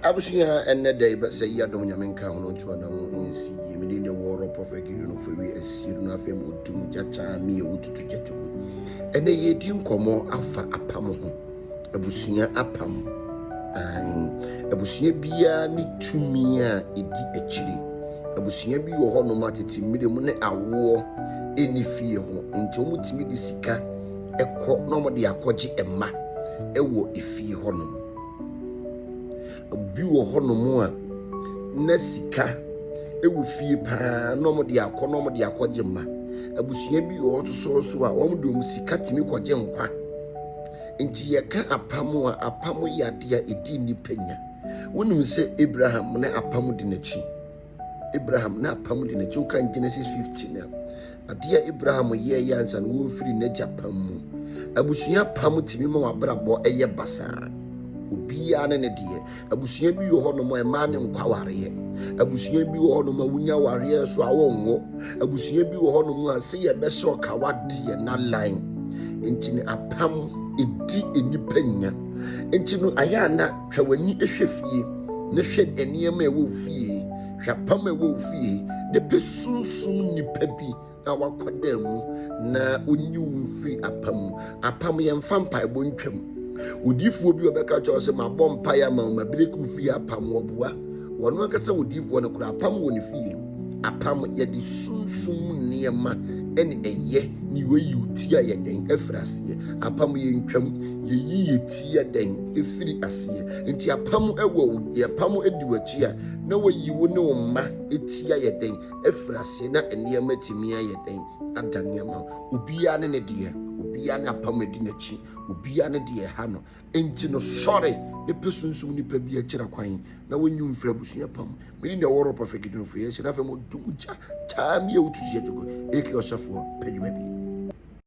Abusua ɛnnɛ da yi bɛ sɛ yi adom nyame nka hono ntua na ho nsi yi me din de wɔrɔ prɔfɛ gidi no fɛwi asie no afei mu otum gya kyaa mi ewu tutu gya tugu ɛnɛ yɛ di nkɔmɔ afa apam ho abusua apam ayin abusua biara ne tumi a edi akyiri abusua bi wɔ hɔ nom atete mmiri mu ne awoɔ ɛni fie ho nti wɔn tumi de sika ɛkɔ na wɔn de akɔgye ɛma ɛwɔ efie hɔ nom. Obi wɔ hɔnom a na sika wɔ fie paa na wɔde akɔ na wɔde akɔgye mma. Abusua bi wɔ hɔ nso so a wɔde wɔn sika tumi kɔgye nkwa. Nti yɛka apam a, apam yɛ adeɛ a ɛdi nnipa nya. Wonim sɛ Abraham ne apam di n'akyi. Abraham n'apam de n'akyi wokan Genesis 15 a, adeɛ a Abraham yɛɛyɛ ansa no wɔrefiri n'agya pam mu. Abusua pam tumi ma w'abrabɔ ɛyɛ basaa. Obiara ne ne deɛ. Abusua bi wɔ hɔnom a mmaa ne nkɔ awareɛ. Abusua bi wɔ hɔnom a wonya awareɛ so a wɔnwo. Abusua bi wɔ hɔnom a sɛ yɛbɛsɛ ɔka wadeɛ na lan. Nti ne apam ɛdi nnipa nya. Nti no ayɛ a na Twa w'ani hwɛ fie na hwɛ nneɛma a ɛwɔ wo fie, hwɛ apam a ɛwɔ wo fie, na pɛ sunsum nipa bi a wakɔda mu na onyi wo mfiri apam mu. Apam yɛmfa mpaebɔ ntwam. Odiifoɔ bi ɔbɛka kyerɛ wo sɛ mabɔ mpaeɛ ama wo, mabireki wo fie apam, ɔboa. Ɔno ankasa odiifoɔ no koraa apam wɔ ne fie. Apam yɛde sunsum mu nneɛma ne ɛyɛ ne yɔyiw ti a yɛ dɛn afiri aseɛ. Apam yɛ ntwam yɛyi yɛ ti yɛ dɛn afiri aseɛ. Nti apam wɔ wo deɛ apam di w'akyi a na wayi wo ne wo mma ti ayɛ dɛn afiri aseɛ na nneɛma atumi ayɛ dɛn adane ama wo. Obiara ne ne deɛ, obiara ne apam adi n'akyi, obiara ne deɛ ɛha no. Enti no sɔre ne pɛ sunsum nnipa bi akyira kwan na wonyi mfiri abusua pa mu. Mene nea ɔwɔ rɔpa fekidi no firi ɛhyɛ na afei mo dum gya taa mi a wotu gya gyegoro aka ɔsɛfoɔ pɛ dwuma bi.